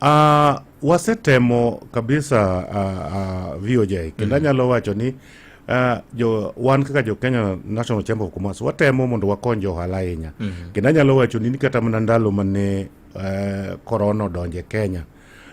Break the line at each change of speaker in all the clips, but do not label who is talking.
Uh, wasetemo kabisa uh, ah, uh, ah, VOJ kendo mm. anyalo wacho ni uh, jo, wan kaka jo Kenya National Chamber of Commerce watemo mondo wakony jo ohala ahinya mm -hmm. kendo anyalo wacho ni kata mana ndalo mane uh, korona odonje Kenya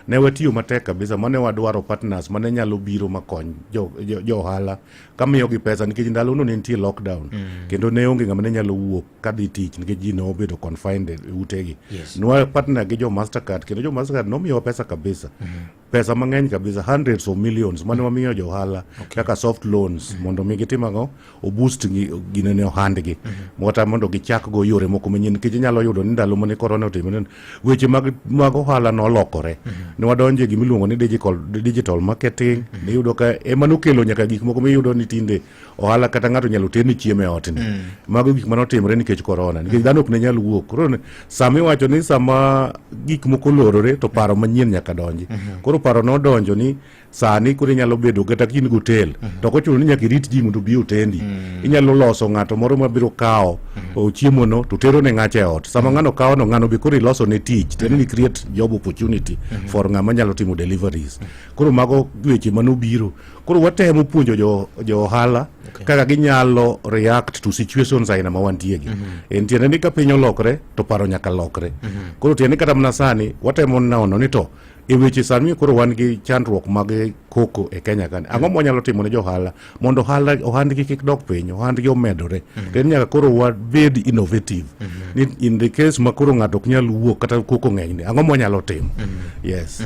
ne watiyo matek kabisa mane wadwaro partners mane nyalo biro makony jo, jo, jo ohala kamiyogi pesa nikech ndalono ne nitie lockdown mm. kendo ne onge ng'ama ne nyalo wuok ka dhi tich nikech ji ne obedo confined e utegi yes. nwa partner gi jo mastercard kendo jo mastercard nomiyowa pesa kabisa mm -hmm. pesa mang'eny kabisa hundreds of millions mane wamiyo jo ohala okay. kaka soft loans mm -hmm. mondo mi gitim ang'o oboost ginene ohandgi mm -hmm. kata mondo gichak go yore moko manyien nikech inyalo yudo ni ndalo mane korona otimore weche mag, mag ohala nolokore mm -hmm. ne wadonje gimiluongo ni digital, digital marketing mm -hmm. niyudo ka ema nokelo nyaka gik moko miyudo ni tinde mm ohala kata ng'ato nyalo terni chiemo e otni mm. mago gik mane otimore nikech korona nikech mm. dhano ok ne nyal wuok koro sama iwacho ni sama gik moko lorore to paro manyien nyaka donji mm-hmm. koro paro nodonjo ni sani koro inyalo bedo kata in gi otel mm-hmm. to kochuno ni nyaka irit ji mondo obi otendi mm. inyalo loso ng'ato moro mabiro kawo mm-hmm. chiemono to tero ne ng'acha e ot sama ng'ano kawono ng'ano be koro iloso ne tich tendo ni create job opportunity for ng'ama nyalo timo deliveries koro mago weche manobiro Koro watemo puonjo jo, jo ohala okay. kaka ginyalo react to situations aina ma wantie gi. Mm -hmm. En tiende ni ka piny olokre to paro nyaka lokre. Mm -hmm. Koro tiende kata mana sani watemo nono ni to e weche sani koro wan gi chandruok mag koko e Kenya kani ang'o mwanyalo timo ne johala mondo ohala ohandgi kik dok piny ohandgi omedore mm-hmm. to en nyaka koro wabed innovative mm-hmm. ni in the case ma koro ng'ato ok nyal wuok kata koko ng'enyni ang'o mwanyalo timo mm-hmm. yes